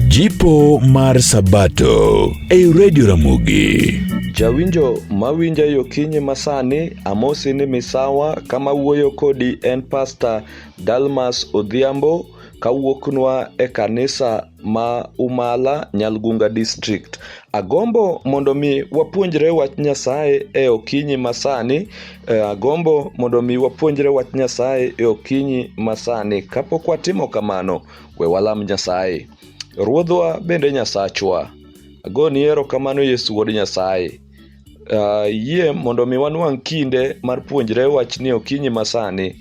Jipo mar Sabato ei Radio Ramogi. Jawinjo mawinja yo kinyi masani, amosi ni misawa kama wuoyo kodi en Pasta Dalmas Odhiambo kawuoknwa e kanisa ma Umala, Nyalgunga District. Agombo mondo mi wapuonjre wach Nyasaye e okinyi masani Eh, agombo mondo mi wapuonjre wach Nyasaye e okinyi masani. Kapok watimo kamano, we walam Nyasaye. Ruodhwa bende Nyasachwa, agoni erokamano Yesu Wuod Nyasaye. Uh, yie mondo mi wanwang' kinde mar puonjre wachni e okinyi masani.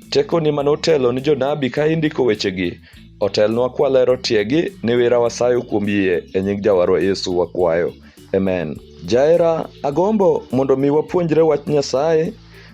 Tekoni mane otelo ni jonabi ka indiko wechegi, otelnwa kwalero tiegi ni wira wasayo kuom yie e nying Jawarwa Yesu wakwayo. Amen. Jaera, agombo mondo mi wapuonjre wach Nyasaye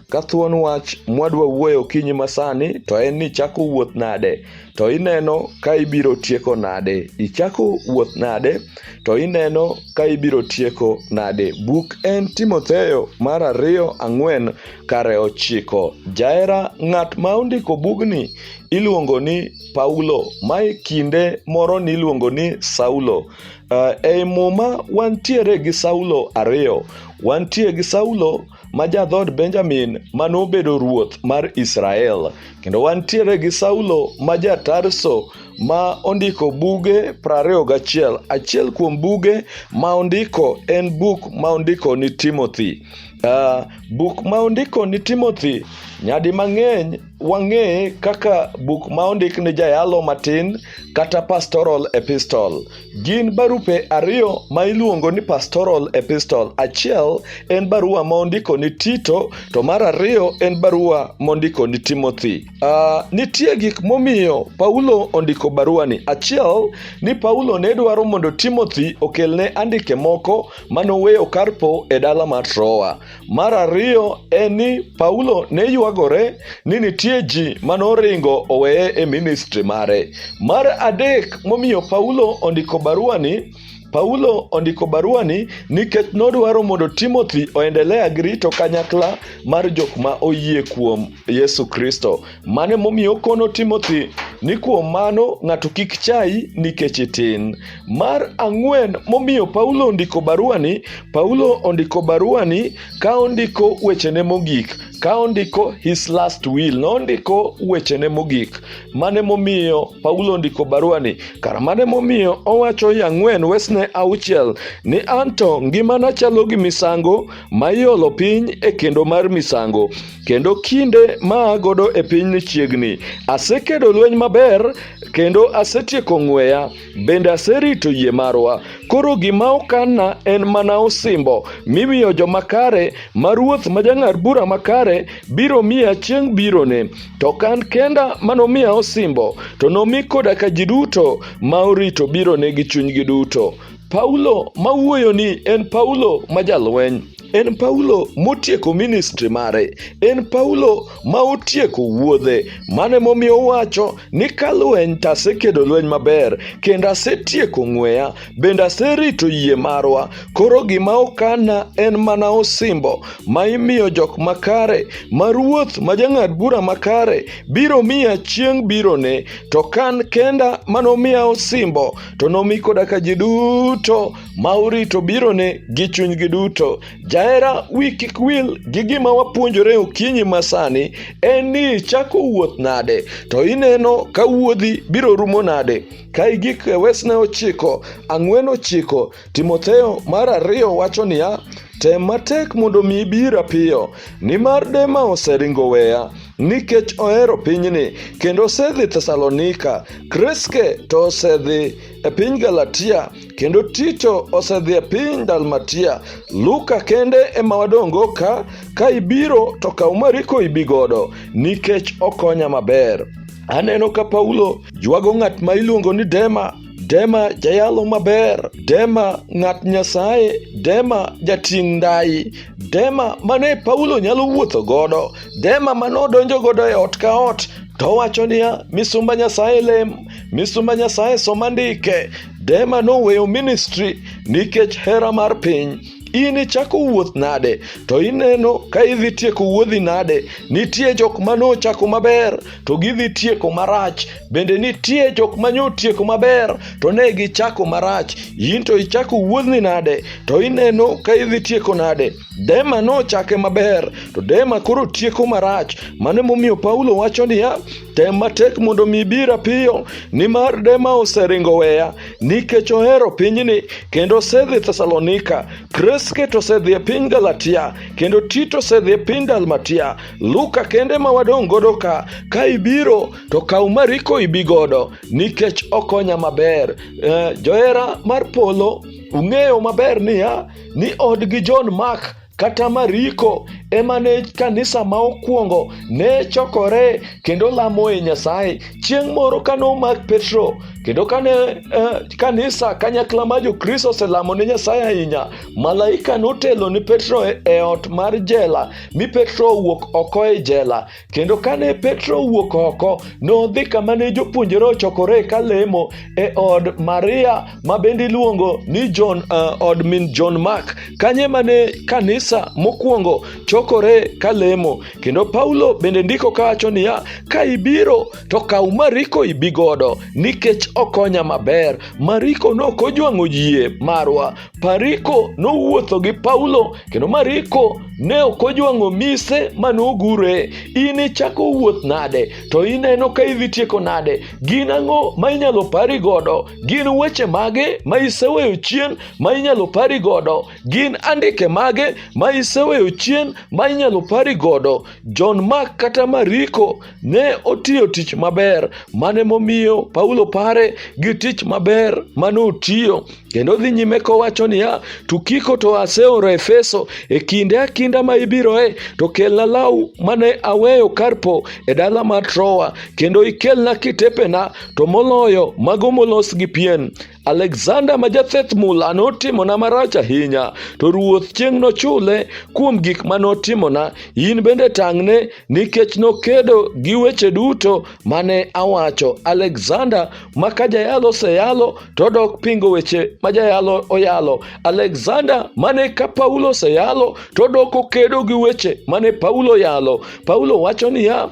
ka thuon wach mwadwa wuoyo okinyi masani to en ni chako wuoth nade to ineno ka ibiro tieko nade ichako wuoth nade to ineno ka ibiro tieko nade buk en timotheo mar ariyo ang'wen kare ochiko jaera ng'at ma ondiko bugni iluongo ni paulo mae kinde moro niluongo ni saulo Uh, ei muma wantiere gi Saulo ariyo. Wantie gi Saulo ma jadhood Benjamin ma nobedo ruoth mar Israel, kendo wantiere gi Saulo ma ja-Tarso ma ondiko buge prariyo gachiel. Achiel kuom buge ma ondiko en buk ma ondiko ni Timothy. Uh, buk ma ondiko ni Timothy nyadi mang'eny wang'e kaka buk ma ondik ni Jayalo Matin kata Pastoral Epistle. Gin barupe ariyo ma iluongo ni Pastoral Epistle. Achiel en barua ma ondiko ni Tito, to mar ariyo en barua mondiko ni Timothy. Uh, nitie gik momiyo Paulo ondiko baruani. Achiel ni Paulo ne dwaro mondo Timothy okelne andike moko manoweyo Karpo e dala mar Troa. Mar ariyo en ni Paulo ne ywagore ni nitie ji ma noringo oweye e ministri mare. Mar adek momiyo Paulo ondiko baruani Paulo ondiko baruani nikech nodwaro mondo Timothy oendelea gi rito kanyakla mar jok ma oyie kuom Yesu Kristo. Mane momiyo okono Timothy ni kuom mano ng'ato kik chayi nikech itin. Mar ang'wen momiyo Paulo ondiko baruani, Paulo ondiko baruani ka ondiko wechene mogik, ka ondiko his last will, nondiko wechene mogik. Mane momiyo Paulo ondiko baruani? Kara mane momiyo owacho ya ang'wen wesne auchiel ni anto ngimana chalo gi misango ma iolo piny e kendo mar misango. kendo kinde ma agodo e piny ni chiegni. Asekedo lweny maber kendo asetieko ng'weya, bende aserito yie marwa. Koro gima okanna en mana osimbo mimiyo joma kare ma ruoth ma jang'ad bura makare biro miya chieng' birone. To kan kenda manomiya osimbo, to nomi koda ka ji duto ma orito birone gi chunygi duto. Paulo ma wuoyoni en Paulo ma jalweny. En Paulo motieko ministri mare. En Paulo ma otieko wuodhe. Mane momiyo owacho ni ka lweny to asekedo lweny maber, kendo asetieko ng'weya, bende aserito yie marwa. Koro gima okana en mana osimbo ma imiyo jok makare, ma ruoth ma jang'ad bura makare biro miya chieng' birone. To ka an kenda manomiya osimbo, to nomi koda ka ji duto ma urito birone gi chunygi duto. Jahera wi kik wil gi gima wapuonjore okinyi masani en ni ichako wuoth nade, to ineno ka wuodhi biro rumo nade. Ka igik e wesne ochiko, ang'wen ochiko, Timotheo mar ariyo wacho niya, Tem matek mondo mi ibira piyo, nimar Dema oseringo weya, nikech ohero pinyni, kendo osedhi Thesalonika. Kreske to osedhi e piny Galatia, kendo Tito osedhi e piny Dalmatia. Luka kende ema wadongo ka, ka ibiro to kaw Mariko ibi godo, nikech okonya maber. Aneno ka Paulo ywago ng'at ma iluongo ni Dema Dema jayalo maber, Dema ng'at Nyasaye, Dema jating' ndai, Dema mane Paulo nyalo wuotho godo, Dema mane odonjo godo e ot ka ot to wacho niya, misumba Nyasaye lem, misumba Nyasaye soma ndike. Dema noweyo ministri nikech hera mar piny. in ichako wuoth nade to ineno ka idhi tieko wuodhi nade nitie jok ma nochako maber to gidhi tieko marach bende nitie jok ma nyotieko maber to ne gichako marach in to ichako wuodhni nade to ineno ka idhi tieko nade dema nochake maber to dema koro tieko marach mano emomiyo paulo wacho niya tem matek mondo mi bira piyo nimar dema oseringo weya nikech ohero pinyni kendo osedhi thesalonika kreske to osedhi e piny galatia kendo tito osedhi e piny dalmatia Luka kende ma wadong' godo ka ka ibiro to kaw Mariko ibi godo nikech okonya maber. Eh, johera mar polo ung'eyo maber niya ni od gi John Mark kata Mariko ema ne kanisa ma okwongo ne chokore kendo lamo e Nyasaye. Chieng' moro kane omak Petro kendo kane eh, kanisa kanyakla ma Jokristo oselamo ne Nyasaye ahinya, malaika notelo ni Petro e, e ot mar jela mi Petro owuok oko e jela. Kendo kane Petro owuok oko, nodhi kama ne jopuonjre ochokore ka lemo e od Maria ma bende iluongo ni John, uh, od min John Mark. Kanye mane kanisa mokwongo chokore ka lemo. Kendo Paulo bende ndiko kawacho niya, ka ibiro to kaw Mariko ibi godo nikech okonya maber. Mariko ne ok ojwang'o yie marwa. Pariko nowuotho gi Paulo kendo Mariko ne ok ojwang'o mise ma nogure. In ichako wuoth nade to ineno ka idhi tieko nade? Gin ang'o ma inyalo pari godo? Gin weche mage ma iseweyo chien ma inyalo pari godo? Gin andike mage ma iseweyo chien ma inyalo pari godo? John Mark kata Mariko ne otiyo tich maber mane momiyo Paulo pare gi tich maber mane otiyo. Kendo dhi nyime kowacho niya, Tukiko to aseoro Efeso, e kinde akinda ma ibiroe, to kelna law mane aweyo Karpo e dala mar Troa, kendo ikelna kitepena, to moloyo mago molos gi pien. Alexander ma jatheth mula notimona marach ahinya, to ruoth chieng' nochule kuom gik ma notimona. In bende tang'ne, nikech nokedo gi weche duto mane awacho alexander ma ka jayalo oseyalo to odok pingo weche ma jayalo oyalo alexander mane ka paulo oseyalo to odok okedo gi weche mane paulo oyalo paulo wacho niya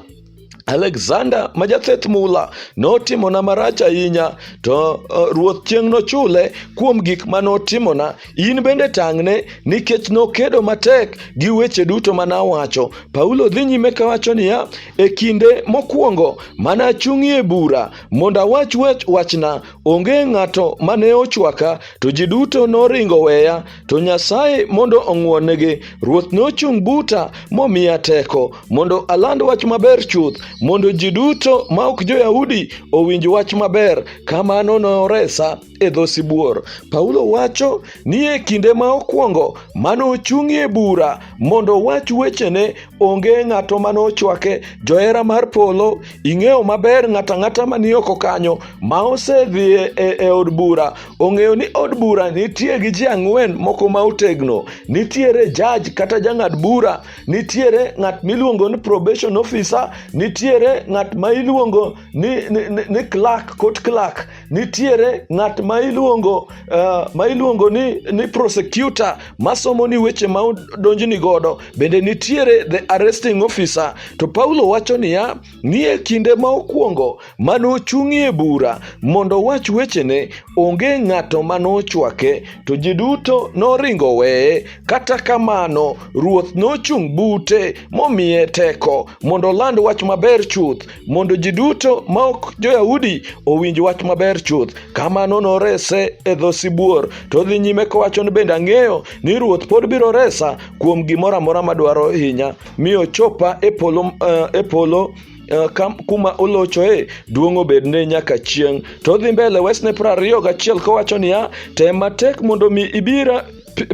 alexander ma jatheth mula notimona marach ahinya to uh, ruoth chieng' nochule kuom gik ma notimona In bende tang'ne nikech nokedo matek gi weche duto ma nawacho. Paulo dhi nyime kawacho niya, e kinde mokwongo mana achung'ie bura mondo awach wach wachna, onge ng'ato ma ne ochwaka, to ji duto noringo weya, to Nyasaye mondo ong'wonnegi. Ruoth nochung' buta momiya teko mondo aland wach maber chuth, mondo ji duto ma ok jo-Yahudi owinj wach maber. Kamano noresa. e dho sibuor. Paulo wacho ni e kinde ma okwongo mane ochung'ie bura mondo owach wechene, onge ng'ato mane ochwake. Johera mar polo, ing'eyo maber ng'ato ang'ata mani oko kanyo ma osedhi e, e, e od bura ong'eyo ni od bura nitie gi ji ang'wen moko ma otegno. Nitiere jaj kata jang'ad bura, nitiere ng'at miluongo ni probation officer, nitiere ng'at ma iluongo ni, ni, ni, ni clerk court clerk nitiere ng'at ma iluongo uh, ma iluongo ni, ni prosecutor masomo ni weche ma donjni godo bende nitiere the arresting officer to paulo wacho niya nie kinde ma okwongo mane ochung'ie bura mondo owach wechene onge ng'ato mane ochwake to ji duto noringo weye kata kamano ruoth nochung' bute momiye teko mondo oland wach maber chuth mondo ji duto ma ok jo-yahudi owinj wach maber chuth kamano norese e dho sibuor to dhi nyime kowacho ni bende ang'eyo ni ruoth pod biro resa kuom gimoro amora madwaro hinya mi ochopa e polo, uh, e polo Eh, kuma olochoe duong' obedne nyaka chieng' to odhi mbele wesne prariyo gachiel kowacho niya tem matek mondo mi ibira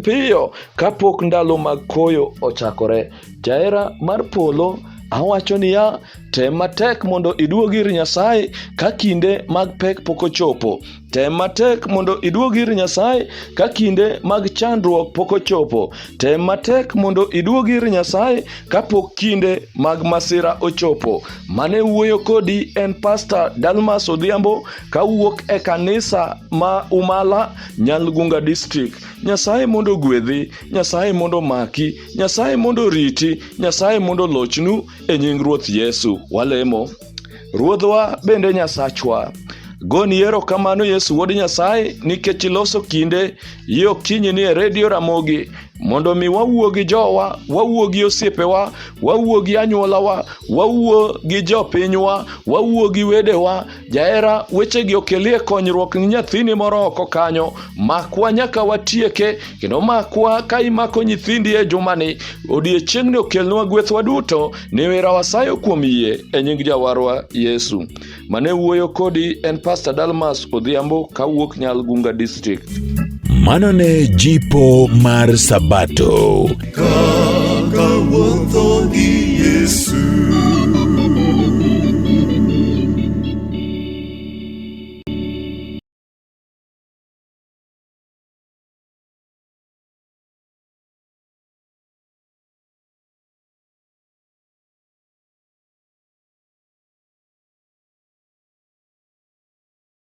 piyo kapok ndalo mag koyo ochakore Jahera mar polo Awacho niya, tem matek mondo iduog ir Nyasaye ka kinde mag pek pok ochopo. Tem matek mondo iduog ir Nyasaye ka kinde mag chandruok pok ochopo. Tem matek mondo iduog ir Nyasaye ka pok kinde mag masira ochopo. Mane wuoyo kodi en Pastor Dalmas Odhiambo ka wuok e kanisa ma Umala, Nyalgunga District. Nyasaye mondo gwedhi, Nyasaye mondo maki. Nyasaye mondo oriti, Nyasaye mondo olochnu e nying Ruoth Yesu. Walemo. Ruodhwa bende Nyasachwa. Goni erokamano Yesu Wuod Nyasaye nikech iloso kinde yi okinyi ni e redio Ramogi mondo mi wawuo gi jowa, wawuo gi osiepewa, wawuo gi anyuolawa, wawuo gi jopinywa, wawuo gi wedewa Jahera wechegi okelie konyruok ni nyathini moro oko kanyo. Makwa nyaka watieke, kendo makwa ka imako nyithindi e jumani, odiechieng'ni okelnwa gwethwa duto, ni wira wasayo kuom yie e nying Jawarwa Yesu. Mane wuoyo kodi en Pastor Dalmas Odhiambo kawuok Nyalgunga District. Mano ne jipo mar Sabato. Kaka wuotho gi Yesu.